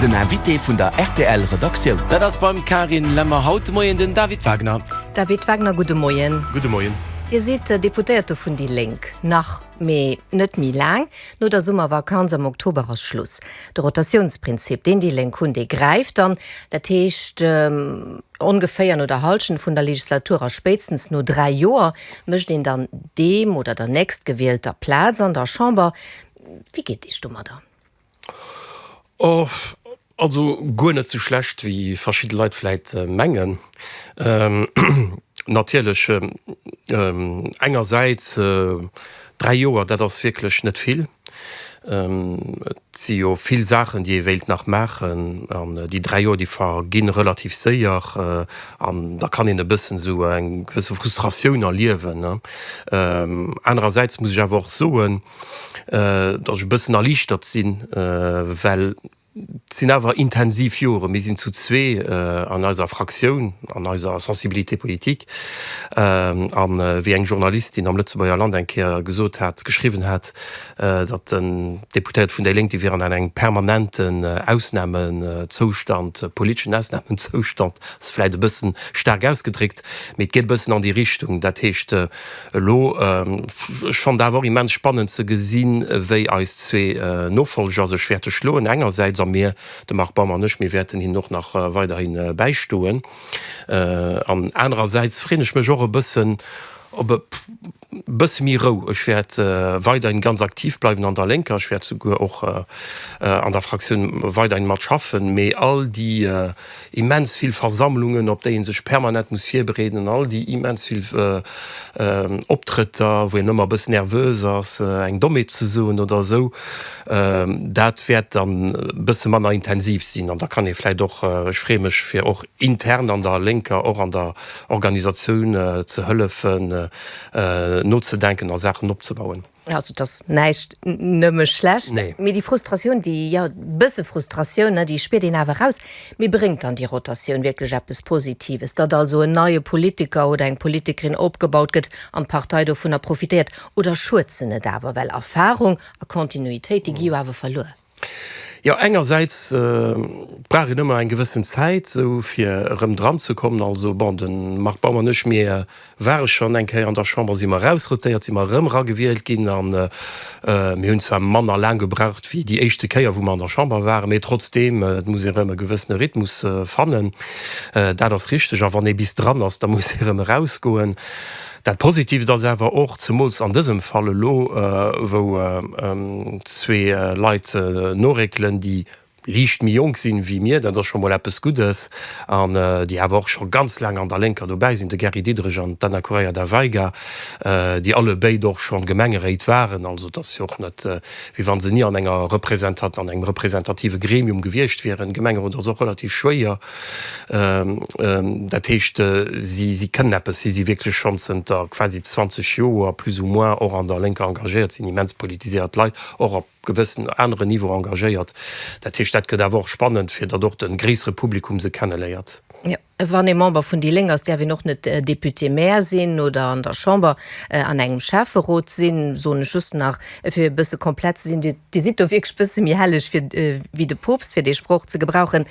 Den Invité vun der rtl Redaktioun. Dat ass beim Karin Lemmer haut de Moien den David Wagner. David Wagner, gudde Moien. Gudde Moien. Dir sidd Deputéierte vun déi Lénk nach, mee net méi laang. No der Summervakanz am Oktober ass Schluss. De Rotatiounsprinzip, deen déi Lénk hunn, dee gräift dann. Dat heescht, ongeféier no der Hallschent vun der Legislatur a spéitstens no dräi Joer mécht een dann deem oder der Nächstgewielter Plaz an der Chamber. Wéi geet Dir iech domadder? Also guer net sou schlecht wéi verschidde Leit vläit mengen. Natierlech engersäits dräi Joer, dat ass wierklech net vill. Et si jo vill Saachen, déi ee wéilt nach maachen an déi dräi Joer, déi vergi relativ séier an da kann een e bëssen esou eng gewësse Frustratioun erliewen. Anerersäits muss ech awer och soen, datt ech e bëssen erliichtert sinn, well et sinn awer intensiv Joren. Mir sinn zu zwee an eiser Fraktioun, an eiser Sensibilité politique. A wéi eng Journalistin am Lëtzebuerger Land eng Kéier gesot hat, geschriwwen hat, datt den Deputéierte vun déi Lénk, déi wieren an engem permanenten Ausnamezoustand, politeschen Ausnamezoustand ass vläicht e bëssen staark ausgedréckt, mee et geet e bëssen an déi Richtung. Dat heescht. Elo, ech fannen dat awer och immens spannend ze gesinn, wéi eis zwee Nofolger sech wäerte schloen engersäits, a mir, de Marc Baum an ech, mir wäerten hinnen och nach weiderhi bäistoen, an anerersäits freeën ech mech och e bëssen op e bësse méi Rou. Ech wäert weiderhin ganz aktiv bleiwen an der Lénker, ech wäert souguer och an der Fraktioun weiderhin mat schaffen, mee all déi, immens vill Versammlungen, op déi ee sech permanent muss virbereeden, an all déi immens vill Optrëtter, wou een ëmmer e bëss nervös ass, eng Dommheet ze soen oder esou, dat wäert dann e bësse manner intensiv sinn. An da kann ee vläicht och, ech freeë mech, fir och intern an der Lénker, och an der Organisatioun ze hëllefen, nozedenken a Saachen opzebauen. Also et ass näischt nëmme schlecht, nee. mee déi Frustratioun, déi ja bësse Frustratioun, déi spiert een awer eraus. Mee bréngt dann déi Rotatioun wierklech eppes Positives, datt also en neie Politiker oder eng Politikerin opgebaut gëtt an d'Partei dovunner profitéiert? Oder schuet se net awer, well Erfarung a Continuitéit, déi gi jo awer verluer? Jo, engersäits brauch een ëmmer eng gewëssen Zäit sou fir erëm dran ze kommen. Also bon, de Marc Baum an ech, mir ware schonn eng Kéier an der Chamber, si mer erausrotéiert, si mer erëm eragewielt ginn a mir hunn zwar manner laang gebraucht wéi déi éischte Kéier, wou mer an der Chamber waren, mee trotzdeem, et muss ee erëm e gewëssene Rhythmus fannen, dat ass richteg. A wann ee bis dran ass, da muss ee erëm erausgoen. Dat Positivt ass awer och, zemools an dësem Fall elo, wou zwee Leit noréckelen, déi liicht méi jonk sinn ewéi mir, dat ass scho mol eppes Guddes, an déi awer och scho ganz laang an der Lénker dobäi sinn, de Gary Diderich an d'Anna Correia da Veiga, déi alle béid och schonn Gemengeréit waren. Also et ass jo och net, wéi wa se ni an engem representative Gremium gewiescht wieren. Gemengerot ass och relativ schwéier. Dat heescht, si kënnen eppes, si si wierklech schonn zënter quasi 20 Joer plus ou moins och an der Lénker engagéiert, sinn immens politiséiert Leit, och op gewëssen anere Niveau engagéiert. Dat heescht, dat gëtt awer och spannend, fir datt och de gréissere Publikum se kenneléiert. Wann ee Member vun déi Léng ass, däerf een och net Député-Maire sinn oder an der Chamber an engem Schäfferot sinn, soen ech just nach. E fir e bësse komplett ze sinn, Dir Dir sidd do wierklech bësse méi helleg fir wéi de Poopst, fir dee Sproch ze gebrauchen.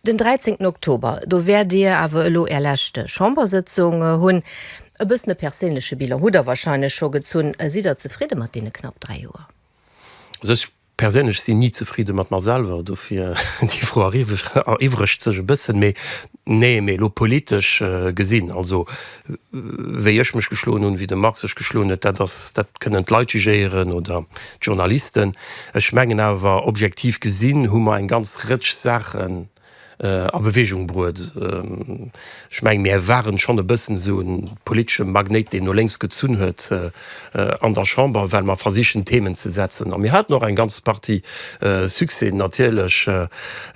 Den 13 Oktober, do wäert Dir awer elo Är lescht Chambersëtzung hunn. E bëssen e perséinleche Bilan hutt Der wahrscheinlech scho gezunn. Sidd Der zefridde mat deene knapp dräi Joer? Also ech Perséinlech sin nie zefridde mat mer selwer, dofir déi Fro eriwwregt sech e bëssen. Mee nee, mee elo politesch gesin, also wéi ech mech geschloen hun, wéi de Marc sech geschloen huet, dat ass, dat kënnen d'Leit jugéieren oder d'Journalisten. Ech mengen awer objektiv gesin hu mer eng ganz Rëtsch Saachen a Bewegung bruet. Ech mengen, mir waren schonn e bëssen esou e politesche Magnéit, deen no lénks gezunn huet an der Chamber, well mer versichen, Themen ze setzen. A mir haten och eng ganz Partie Succèsen, natierlech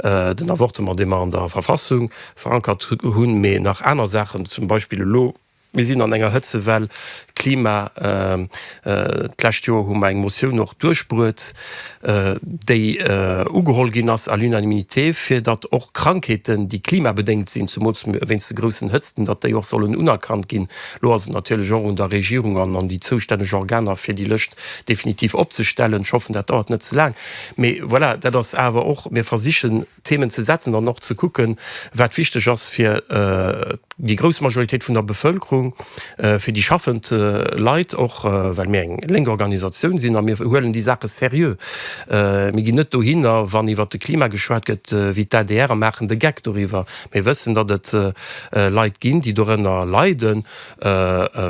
den Avortement, dee mer an der Verfassung verankert hunn, mee nach aner Saachen, zum Beispill elo Mir sinn an enger Hëtzewell, Klima. D'lescht Joer hu mer eng Motioun och duerchbruet, déi ugeholl ginn ass à l'unanimité, fir datt och Krankheeten, déi klimabedéngt sinn, zemools wéinst de groussen Hëtzten, datt déi och sollen unerkannt ginn. Elo ass et natierlech och un der Regierung an un déi zoustänneg Organer, fir déi Lëscht definitiv opzestellen. Ech hoffen, dat dauert net ze laang. Mee voilà, dat ass awer och, mir versichen, Themen ze setzen an och ze kucken, wat wichteg ass fir déi grouss Majoritéit vun der Bevëlkerung, fir déi schaffend Leit och, well mir eng lénk Organisatioun sinn a mir huelen déi Saache seriö. Mir ginn net dohinner, wann iwwert de Klima geschwat gëtt wéi d'ADR a maachen de Geck doriwwer. Mir wëssen, datt et Leit ginn, déi dorënner leiden.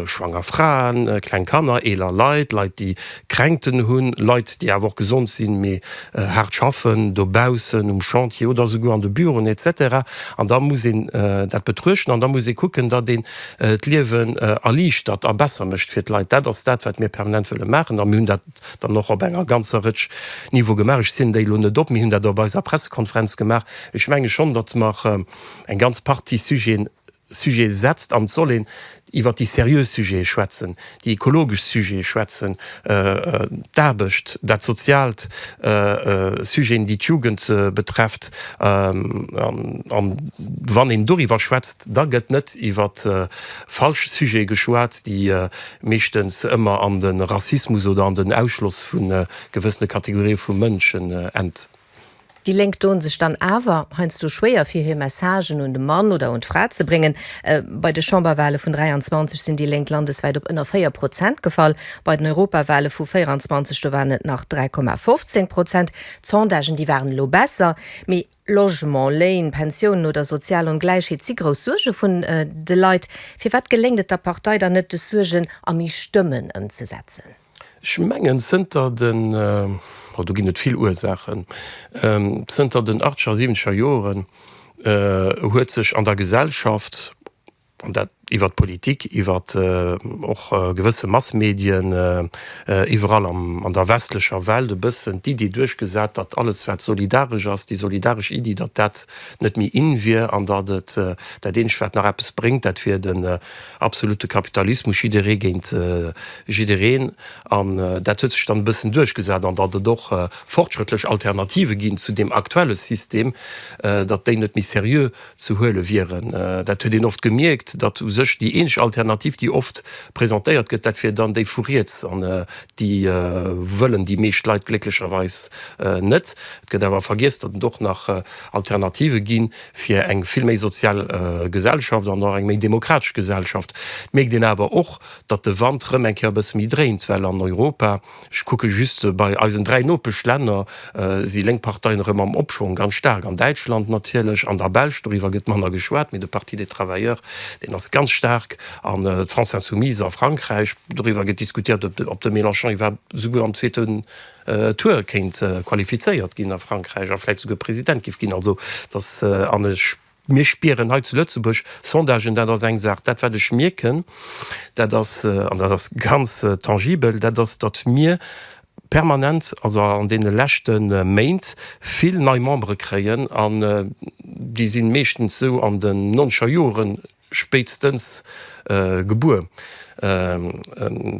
schwanger Fraen, kleng Kanner, eeler Leit, Leit déi Kränkten hunn, Leit déi awer och gesond sinn, mee haart schaffen, dobaussen um Chantier oder esouguer an de Büroen, etc. An da muss een dat betruechten an da muss ee kucken, datt een d'Liewen erliichtert a besser mécht fir d'Leit. Dat ass dat, wat mir permanent wëlle maachen a mir hunn dat dann och op enger ganzer Rëtsch Niveau gemaach. Ech zielen déi elo net op. Mir hunn dat op eiser Pressekonferenz gemaach. Ech menge schonn, datt mer eng ganz Partie Sujeten Sujete setzt an d'Soll een iwwer déi seriö Sujete schwätzen, déi ekologesch Sujete schwätzen, d'Aarbecht, dat Soziaalt, Sujeten, déi d'Jugend betrefft. A wann een doriwwer schwätzt, da gëtt net iwwer falsch Sujete geschwat, déi meeschtens ëmmer an de Rassismus oder an den Ausschloss vu gewëssene Kategorië vu Mënschen enn. Déi Lénk doen sech dann awer heiansdo schwéier fir hir Messagen un de Mann oder un d'Fra ze bréngen. Bei de Chamberwahle vun 23 sinn déi Lénk landeswäit op ënner 4 Prozent gefall. Bei den Europawahle vu 24 do waren et nach 3,15 Prozent. D'Sondagen déi waren elo besser, mee Logement, Léin, Pensiounen oder sozial Ongläichheet si grouss Suerge vun de Leit. Firwat geléngt et der Partei dann net, des Suergen a méi Stëmmen ëmzesetzen? Ech mengen zënter den, oh do ginn et vill Ursaachen, zënter den achtzeger, siwwenzeger Joren huet sech an der Gesellschaft, an dat iwwert d'Politik, iwwert och gewësse Massmedien, iwwerall an der westlecher Welt e bëssen d'Iddi duerchgesat, datt alles wat solidaresch ass, déi solidaresch Iddi, datt dat net méi in wier an datt et dat eenzegt wat nach eppes bréngt, dat wier Absolute Kapitalismus, jidderee géint jiddereen. An dat huet sech dann e bëssen duerchgesat, an datt et och fortschrëttlech Alternative ginn zu deem aktuelle System, datt déi net méi seriö ze huele wieren. Dat huet een oft gemierkt, datt u sech déi eenzeg Alternativ, déi oft presentéiert gëtt, dat wier dann déi vu riets. An déi wëllen déi meescht Leit glécklecherweis net. Et gëtt awer vergiess, datt et och nach Alternative ginn. fir eng vill méi sozial Gesellschaft an och eng méi demokratesch Gesellschaft, mierkt een awer och, datt de Wand rëm eng Kéier e bësse méi dréint, well an Europa, ech kucke just bei eisen dräi Nopeschlänner, si lénk Parteien erëm am Opschwong, ganz staark an Däitschland natierlech, an der Belsch, doriwwer gëtt manner geschwat, mee de Parti des travailleurs, deen ass ganz staark, an d'France insoumise a Frankräich, doriwwer gëtt diskutiert, ob de Mélenchon iwwerhaapt souguer am zweete. Tour kéint qualifizéiert ginn a Frankräich a vläit souguer President giff ginn. Also dass, an mir spieren hei zu Lëtzebuerg Sondagen, dat ass eng Saach, dat wat ech mierken, dat ass, an dat ass ganz tangibel, dat ass datt mir permanent, also an deene leschte Méint vill nei Membere kréien an déi sinn meeschtens sou an den noncher Joren, spéitstens gebuer,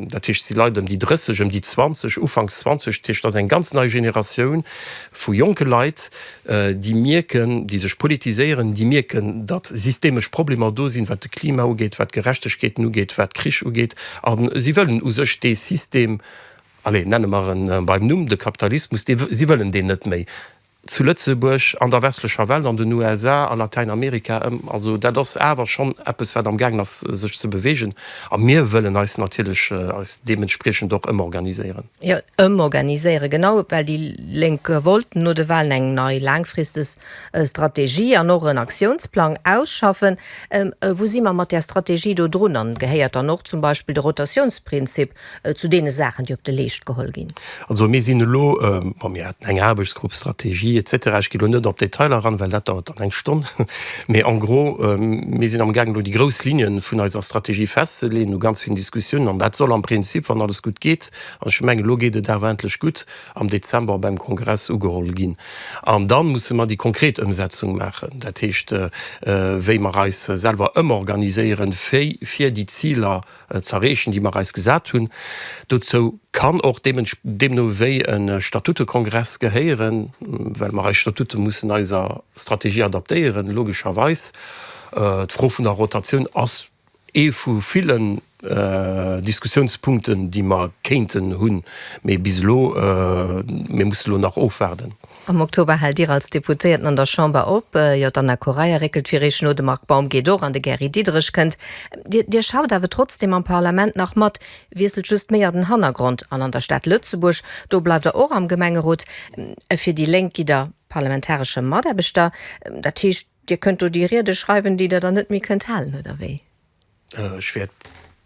dat heescht si Leit ëm déi 30, ëm déi 20, ufanks 20, dat heescht ass eng ganz nei Generatioun vu jonke Leit, déi mierken, déi sech politiséieren, déi mierken, datt systemesch Problemer do sinn, wat de Klima ugeet, wat Gerechtegkeeten ugeet, wat Krich ugeet, a si wëllen u sech dee System, allez, nenne mer e beim Numm, de Kapitalismus, si wëllen deen net méi. zu Lëtzebuerg, an der westlecher Welt, an den USA, a Latäinamerika. Also dat ass awer schonn eppes, wat amgaangen ass, sech ze beweegen. A mir wëllen eis natierlech eis deementspriechend och ëmorganiséieren. Jo, ëmorganiséieren, genau, well déi Lénk wollten no de Wahlen eng nei laangfristeg Strategie an och en Aktiounsplang ausschaffen. Wou si mer mat där Strategie do drun? An gehéiert dann och zum Beispill de Rotatiounsprinzip Zu deene Saachen, déi op de Leescht geholl ginn. Also mir sinn elo, bon, mir haten eng Aarbechtsgrupp Strategie et cetera, ech ginn elo net op d'Detailer eran, well dat dauert dann eng Stonn, mee en gros, mir sinn amgaang elo déi grouss Linne vun eiser Strategie festzeleeën no ganz villen Diskussiounen. An dat soll am Prinzip, wann alles gutt geet, an ech mengen, elo geet et awer endlech gutt, am Dezember beim Kongress ugeholl ginn. An da musse mer déi konkret Ëmsetzung maachen, dat heescht, wéi mer eis selwer ëmorganiséieren, fir déi Ziler ze erreechen, déi mer eis gesat hunn. Dozou kann och deemno wéi e Statutekongress gehéieren, well mer eis Statute mussen eiser Strategie adaptéieren, logescherweis. D'Fro vun der Rotatioun ass ee vu villen Diskussiounspunkten, déi mer kéinten hunn, mee bis elo, mir mussen elo nach ofwaarden. Am Oktober hält Dir als Deputéierten an der Chamber op. Jo, d'Anna Correia réckelt fir Eech no, de Marc Baum geet och an de Gary Diderich kënnt. Dir, Dir schaut awer trotzdeem am Parlament nach mat, wiesselt just méi an den Hannergrond. An an der Stad Lëtzebuerg, do bleift Der och am Gemengerot. Fir déi Lénk gitt Der parlamentaresche Mataarbechter. Dat heescht, Dir kënnt do déi Riede schreiwen, déi Der dann net méi kënnt halen, oder wéi? Ech wäert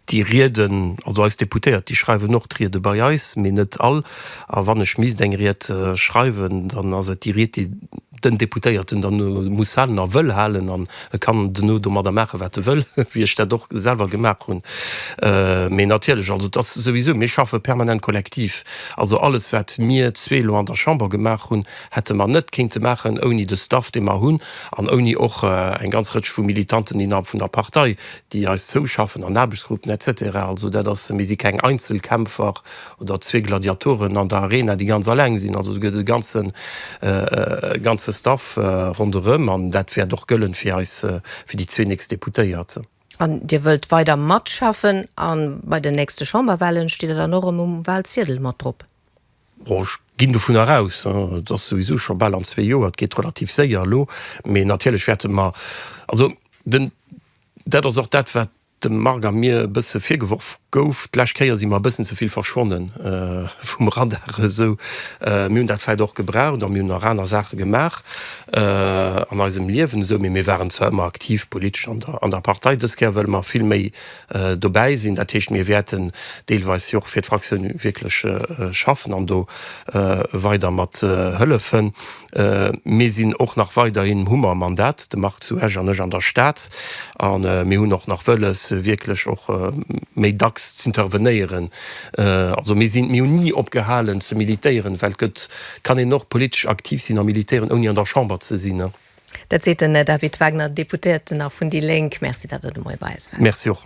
déi Rieden, also eis Deputéiert, déi schreiwen och d'Riede bei eis, mee net all. A wann ech misst eng Ried schreiwen, dann ass et déi Ried, déi den Deputéierten dann muss halen a wëll halen. An e kann duerno domadder maachen, wat e wëll, wéi ech dat och selwer gemaach hunn. Mee natierlech, also et ass souwisou, mir schaffe permanent kollektiv. Also alles, wat mir zwee elo an der Chamber gemaach hunn, hätte mer net kéinte maachen ouni de Staff, dee mer hunn, an ouni och eng ganz Rëtsch vu Militanten innerhalb vun der Partei, déi eis zouschaffen an Aarbechtsgruppen, etc. Also dat ass, mir si keng Einzelkämpfer oder zwee Gladiatoren an der Arena, déi ganz alleng sinn. Also do gëtt et e ganze, ganze Staff ronderëm an dat wäert och gëllen fir eis, fir déi zwee nächst Deputéiert. An Dir wëllt weider matschaffen a bei den nächste Chamberwahlen, steet Der dann och erëm um Wahlziedel mat drop? Bon, ech ginn dovunner aus, et ass souwisou scho bal an zwee Joer, et geet relativ séier elo, mee natierlech wäerte mer, also den, dat ass och dat, wat dem Marc a mir e bësse virgeworf gouf, d'lescht Kéier si mer e bëssen ze vill verschwonne vum Radar esou. Mir hunn dat vläicht och gebraucht a mir hunn nach aner Saache gemaach an eisem Liewen esou, mee mir waren zwar ëmmer aktiv politesch an der Partei. Dës Kéier wëlle mer vill méi. dobäi sinn. Dat heescht, mir wäerten deelweis jo och fir d'Fraktioun wierklech schaffen an do weider mat hëllefen. Mir sinn och nach weiderhin, hu mer e Mandat, de Marc zu Esch an ech an der Stad, a mir hunn och nach wëlles, wierklech och méi dacks z'intervenéieren. Also mir sinn, mir hunn ni opgehalen ze militéieren, well et gëtt, et kann een och politesch aktiv sinn a militéieren, ouni an der Chamber ze sinn. Dat seet den David Wagner, Deputéierten, nach vun déi Lénk. Merci, datt Der de Moie bei eis waart. Merci och.